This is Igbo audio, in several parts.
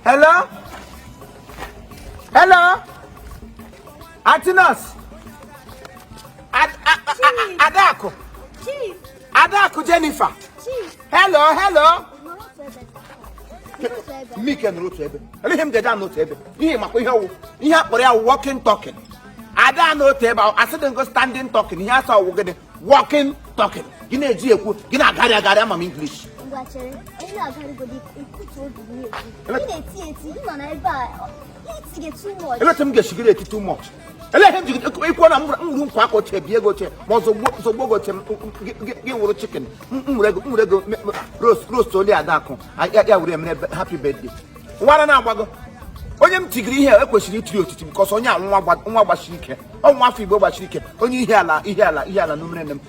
hello hello anti nọọsụ adakụ adakụ jennifer hello hello mụ ka nọrọ otu ebe ihe m ga-eji anọ otu ebe ị makwa ihe ọwụ ihe akpọrọ ya walking talking ada anọ otu ebe asị dị ngo standing talking ihe a sị ọwụ gịnị walking talking gị na-eji ekwu gị na-agharị agharị ama m English ngwa chere onye agarịgodi ekutu obi m na-ekwu ị na-eti eti ị nọ na ebe a itige too much ele otu m ga-esi ghara eti too much ele ihe m ji ikwu na m wụrụ nkwa aka ochie bie gị ochie ma ọzọ zogbo gị ochie gị wụrụ chicken m were gị roast oli adakụ ya were emere happy birthday nwata na-agbago onye m tigiri ihe ekwesịrị itiri otiti because onye a nwa gbasiri ike nwa afọ igbo gbasiri ike onye Ihiala Ihiala Ihiala n'umere nne m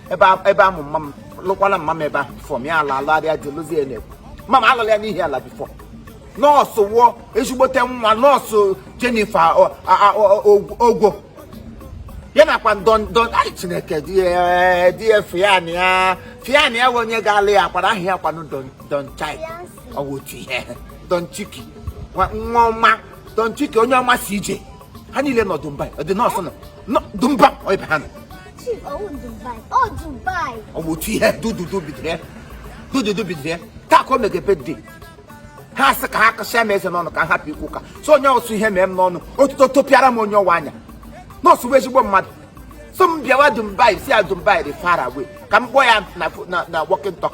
ebe amụ mma m lụkwala mma m ebe ahụ before m ya ala alụgharịa jelozi ya na-ekwu mma m alụla ya n'Ihiala before nọọsụ wụ ezigbote nwa nọọsụ Jennifer ogwo ya nakwa don don ai chineke di ya na ya fian ya onye ga-alụ ya kwara aha ya kwanụ don chai ọ bụ otu ihe Don Chiki nwa nwa ọma Don Chiki onye ọma CJ ha niile nọ Dubai anti nọọsụ nọ nọ Dumba ọ ebe ha nọ Chief, oh, Dubai. Oh, Dubai. ọ bụ otu ihe dududu bidoro ya dududu bidoro ya taa ka o mege birthday ha sị ka ha kụsịa m eze n'ọnụ ka m hapụ ikwu ụka so onye ọsụ ihe mee m n'ọnụ otuto topịara m onye ọwa anya nọọsụ bụ ezigbo mmadụ so m bịawa Dubai sị ya Dubai dị far away ka m kpọọ ya na na na walking talk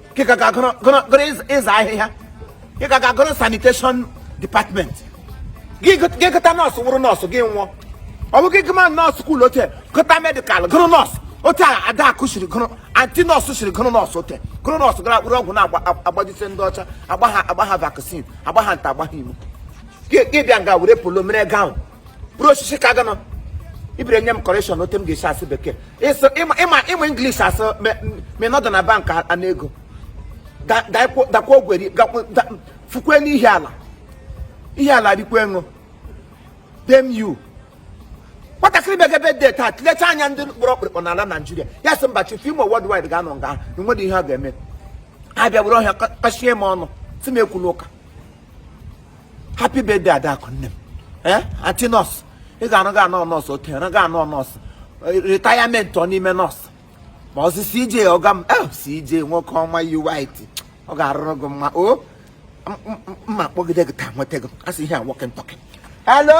kịka ka gụrụ ịza ahịhịa kịka ka gụrụ sanitation department gị gụta nọọsụ wụrụ nọọsụ gị nwụọ ọ bụ gị gụma nọọsụ school ote gụta medical gụrụ nọọsụ ote a adakụ siri gụrụ anti nọọsụ siri gụrụ nọọsụ ote gụrụ nọọsụ gara akpụrụ ọgwụ na-agbajite ndị ọcha agba ha agba ha vaccine agba ha nta agba ha imo gị bịa nga were polo mere gown bụrụ osisi ka ganọ ị bịara nye m correction otu m ga-esi asụ bekee ịsụ ịma ịma ịma English a sị m ị nọdụ na bank ana ego dakwa Owerri fukwe n'Ihiala Ihiala rikwa gị o damn you nwatakịrị mege birthday taa tụlecha anya ndị gbara ọkpụrụkpụ n'ala naijiria ya sị mba Chief Imo worldwide ga-anọ nga ahụ na nwere ihe ọ ga-eme abịa were ihe a kpachie m ọnụ sị m ekwula ụka happy birthday adakụ nne m ee eh, anti nọọsụ ị ga-arụ ga anọ nọọsụ okenye na ga anọ nọọsụ retirement ọ n'ime nọọsụ maazị CJ ọga m eh, CJ nwoke ọma yi white ọ ga-arụrụ gị mma o oh, mma kpọgide gị taa nweta gị asị ihe a walking talking hello